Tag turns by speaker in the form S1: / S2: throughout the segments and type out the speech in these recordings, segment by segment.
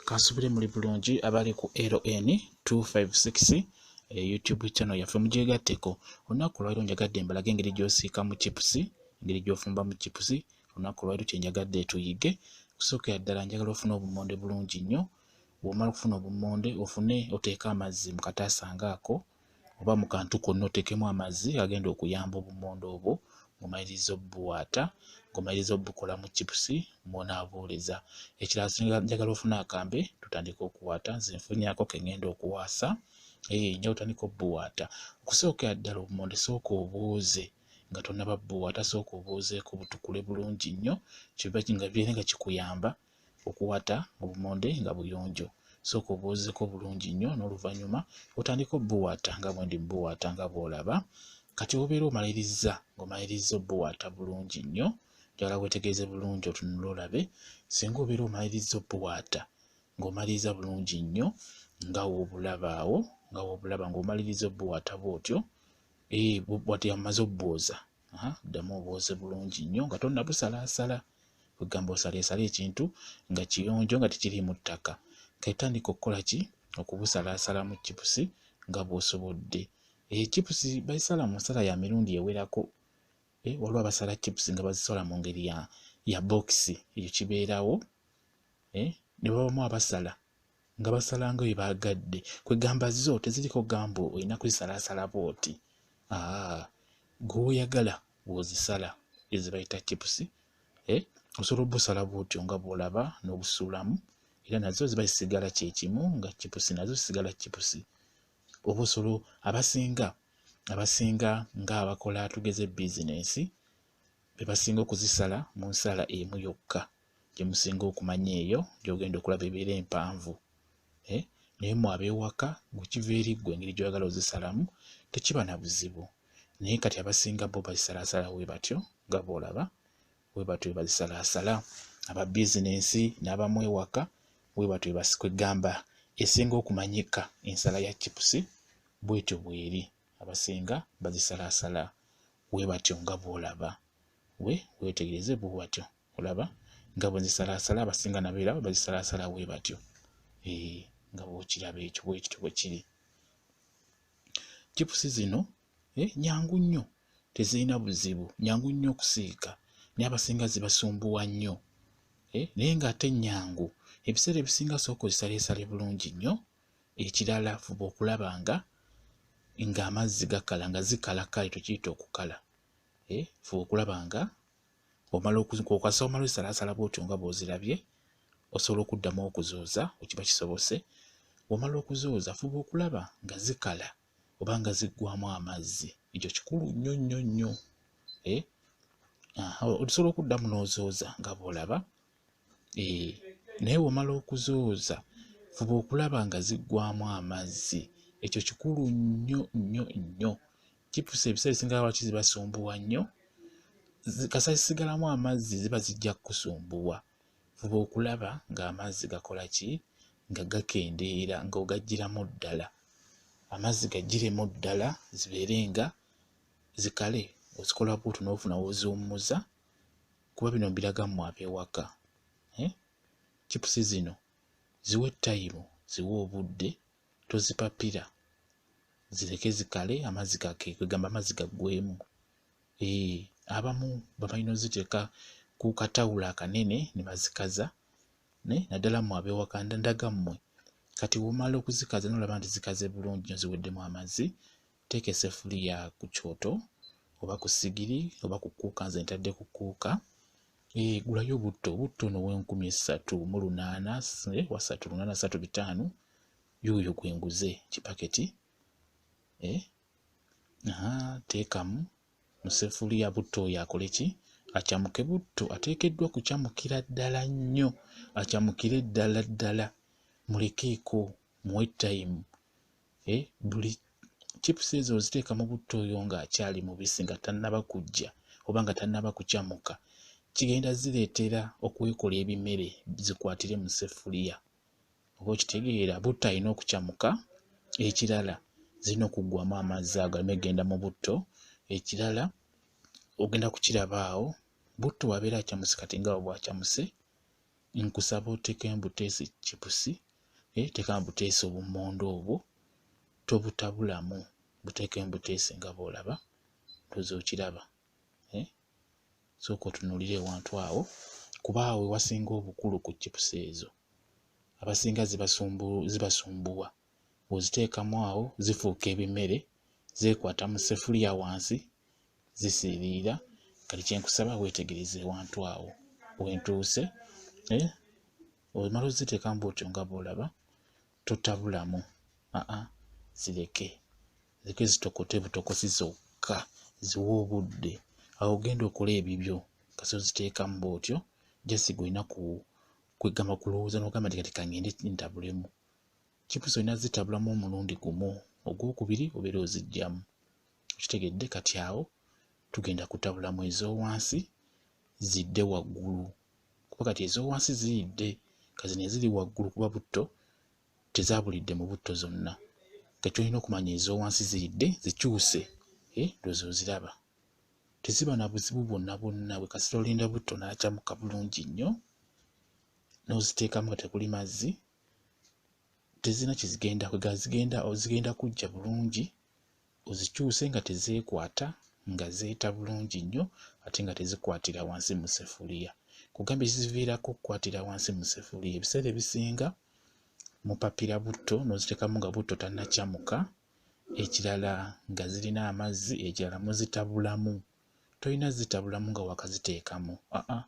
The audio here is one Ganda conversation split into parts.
S1: kansubire muli bulungi abali ku ln 256 e youtube channel yaffe mugyegatteko olunaku lwaliro njagadde mbalage engeri gyosiika mu chipusi engeri gyofumba mu chipusi olunaku lwaliro kyenjagadde tuyige kusookera ddala njagala ofuna obumonde bulungi nnyo bwomala okufuna obumonde ofune oteeke amazzi mu kataasa ngaako oba mu kantu konna oteekemu amazzi agenda okuyamba obummonde obwo ng'omaliriza obubuwaata ng'omaliriza obukolamu chipusi mw'onaabuuliza. Ekirala singa njagala ofune akambe tutandike okuwaata nze nfunyaako ke ng'enda okuwaasa ee nja otandika obubuwaata. Okusookera ddala obummonde sooka obuuze nga tonnaba bubuwaata sooka obuuzeeko butukule bulungi nnyo kiba nga kibeere nga kikuyamba okuwata obumonde nga buyonjo sooka obwozeko bulungi nnyo n'oluvannyuma otandika obuwaata nga bwendi buwaata nga bw'olaba kati obeera omalirizza ng'omalirizza obuwaata bulungi nnyo njagala wetegereze bulungi otunula olabe singa obeera omalirizza obuwaata ng'omaliriza bulungi nnyo nga wobulabaawo nga wobulaba ng'omaliriza obuwaata bw'otyo ee eh, bwati amaze obwoza ddamu obwoze bulungi nnyo nga tonnabusalaasala kwegamba osaleesala ekintu nga kiyonjo nga tekiriimu ttaka ketandika okukola ki okubusalaasala mu chipusi nga bw'osobodde eyo eh, chipusi bazisala mu nsala ya mirundi ewerako eh, waliwo abasala chipusi nga bazisola mu ngeri ya bokisi ekyo kibeerawo eh, ne babamu abasala nga basalanga bye baagadde kwegamba zo teziriko gamba olina kuzisalaasala bwoti ah, gwoyagala wozisala ezibayita chipusi eh, osobola obusala bwotyo nga bwolaba n'obusuulamu era nazo ziba zisigala kyekimu nga chipusi nazo zisigala chipusi oba osobola abasinga abasinga nga abakola tugeze bizinensi bebasinga okuzisala mu nsala emu yokka gye musinga okumanya eyo gy'ogenda okulaba ebeera empanvu eh, naye mu abeewaka gwekiva eri ggwe engeri gy'oyagala ozisalamu tekiba na buzibu naye kati abasinga bo bazisalaasala we batyo nga boolaba we batyo bazisalaasala aba bizinensi n'abamu ewaka we batyo basikwegamba esinga okumanyika ensala ya chipusi bwetyo bweri abasinga bazisalaasala we batyo nga boolaba we weetegereze bwe watyo olaba nga bwe nzisalaasala abasinga nabeera bwe bazisalaasala we batyo ee nga bwokiraba ekyo bwekityo bwe kiri chipusi zino eh, nyangu nnyo tezirina buzibu nyangu nnyo okusiika naye abasinga zibasumbuwa nnyo eh, naye ng'ate nyangu ebiseera ebisinga sooka ozisaleesale bulungi nnyo ekirala fuba okulaba nga ng'amazzi gakala nga zikala kale tukiyita okukala eh, fuba okulaba nga bw'omala okukasa omala osalaasala bw'otyo nga bw'ozirabye osobola okuddamu okuzooza wekiba kisobose bw'omala okuzooza fuba okulaba nga zikala oba nga ziggwamu amazzi ekyo kikulu nnyo nnyo nnyo eh? osobola okuddamu n'ozooza nga bw'olaba naye womala okuzooza fuba okulaba nga ziggwamu amazzi ekyo kikulu nnyo nnyo nnyo kipusa ebiseera ebisinga lwaki zibasumbuwa nnyo kasa zisigalamu amazzi ziba zijja kukusumbuwa fuba okulaba ng'amazzi gakola ki nga gakendeera ng'ogajjiramu ddala amazzi gajjiremu ddala zibeere nga zikale ozikola bwotyo n'ofuna woziwummuza kuba bino mbiraga mmwe ab'ewaka eh? chipusi zino ziwe tayimu ziwe obudde tozipapira zireke zikale amazzi gake kwegamba amazzi gaggwemu ee eh, abamu babalina oziteeka ku katawulo akanene ne bazikaza ne naddala mmwe ab'ewaka ndaga mmwe kati womala okuzikaza nolaba nti zikaze bulungi nyo ziweddemu amazzi teeka esefuliya ku kyoto oba ku sigiri oba ku kuuka nze ntadde ku kuuka eh, gulayo obutto obutto no wenkumi essatu mu lunaana eh, wasatu lunaana satu bitaano yoyo gwe nguze kipaketi eh, teekamu mu sefuliya butto oyo akole ki acamuke butto ateekeddwa kucamukira ddala nnyo acamukire ddala ddala mulekeeko muwe tayimu eh, buli chips ezo oziteeka mu butto oyo ng'akyali mubisi nga tannaba kujja oba nga tannaba kucamuka kigenda zireetera okwekola ebimere zikwatire mu sefuliya oba okitegeera butto alina okucamuka ekirala zirina okuggwamu amazzi ago alina okugenda mu butto ekirala ogenda kukiraba awo butto wabeera acamuse kati nga bwacamuse nkusaba otekeyo mbuteese chipusi eh, tekamu buteese obumonde obwo tobutabulamu butekeyo mbuteese nga bwolaba ndoza okiraba eh? sooka otunulire ewantu awo kuba awo wewasinga obukulu ku chipusi ezo abasinga zibasumbuwa ziba bw'oziteekamu awo zifuuka ebimere zeekwata mu sefuliya wansi zisiiriira kati kyenkusaba weetegereze ewantu awo wentuuse eh, omala oziteekamu bwotyo nga bwolaba totabulamu aa zireke zireke zitokote butokosi zokka ziwa obudde awo ogenda okola ebibyo kasi oziteekamu bwotyo jasi gwe olina kwegamba kulowooza nogamba nti kati kangende ntabulemu chips olina zitabulamu omulundi gumu ogwokubiri obeera ozijjamu okitegedde kati awo tugenda kutabulamu ezowansi zidde waggulu kuba kati ezowansi ziyidde kazino eziri waggulu kuba butto tezabulidde mu butto zonna kati olina okumanya ezowansi ziyidde zikyuse eh, lwozi oziraba teziba na buzibu bwonna bwonna bwe kasita olinda butto naakyamuka bulungi nnyo n'oziteekamu nga tekuli mazzi tezirina kyezigenda kwega zigenda zigenda kujja bulungi ozikyuse nga tezeekwata nga zeeta bulungi nnyo ate nga tezikwatira wansi mu sefuliya kugamba ekiziviirako okukwatira wansi mu sefuliya ebiseera ebisinga mupapira butto n'oziteekamu nga butto tannakyamuka ekirala nga zirina amazzi ekirala muzitabulamu tolina zitabulamu nga wakaziteekamu aa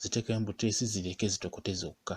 S1: ziteekemu buteesi zireke zitokote zokka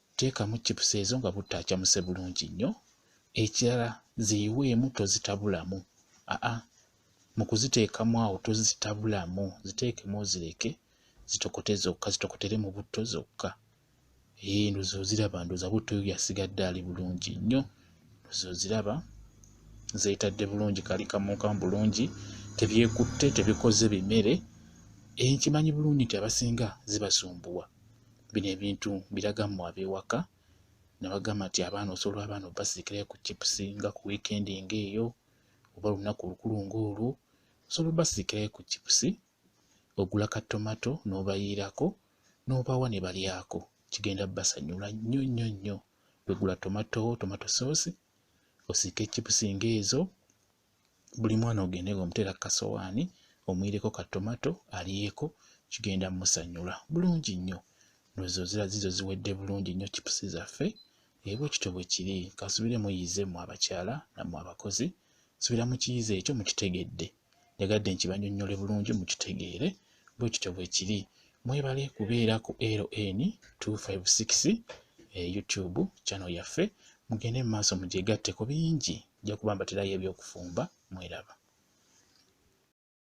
S1: teekamu chips ezo nga butta acamuse bulungi nnyo ekirala ziyiweemu tozitabulamu aa mu kuziteekamu awo tozitabulamu ziteekemu ozireke zitokote zokka zitokotere mu butto zokka ee ndoza oziraba ndoza butto yo yasigadde ali bulungi nnyo ndoza oziraba zeetadde bulungi kali kamunkamu bulungi tebyekutte tebikoze bimere enkimanyi eh, bulungi nti abasinga zibasumbuwa bino ebintu biraga mu ab'ewaka ne bagamba nti abaana osobola abaana obasiikirayo ku chips nga ku wiikendi ng'eyo oba olunaku olukulu ng'olwo osobola obasiikirayo ku chips ogula ka tomato n'obayiirako n'obawa ne balyako kigenda basanyula nnyo nnyo nnyo wegula tomato tomato soosi osiike chips ng'ezo buli mwana ogende nga omuteera kasowaani omuyireko ka tomato aliyeko kigenda musanyula bulungi nnyo nozo zira zizo ziwedde bulungi nnyo chipusi zaffe ebwe kityo bwe kiri kasubire muyize mu abakyala namwe abakozi subira mu kiyize ekyo mukitegedde njagadde nkibanyonnyole bulungi mukitegeere bwe kityo bwe kiri mwebale kubeera ku ln 256 e youtube channel yaffe mugende mu maaso mugyegatteko bingi nja kuba mbaterayo ebyokufumba mweraba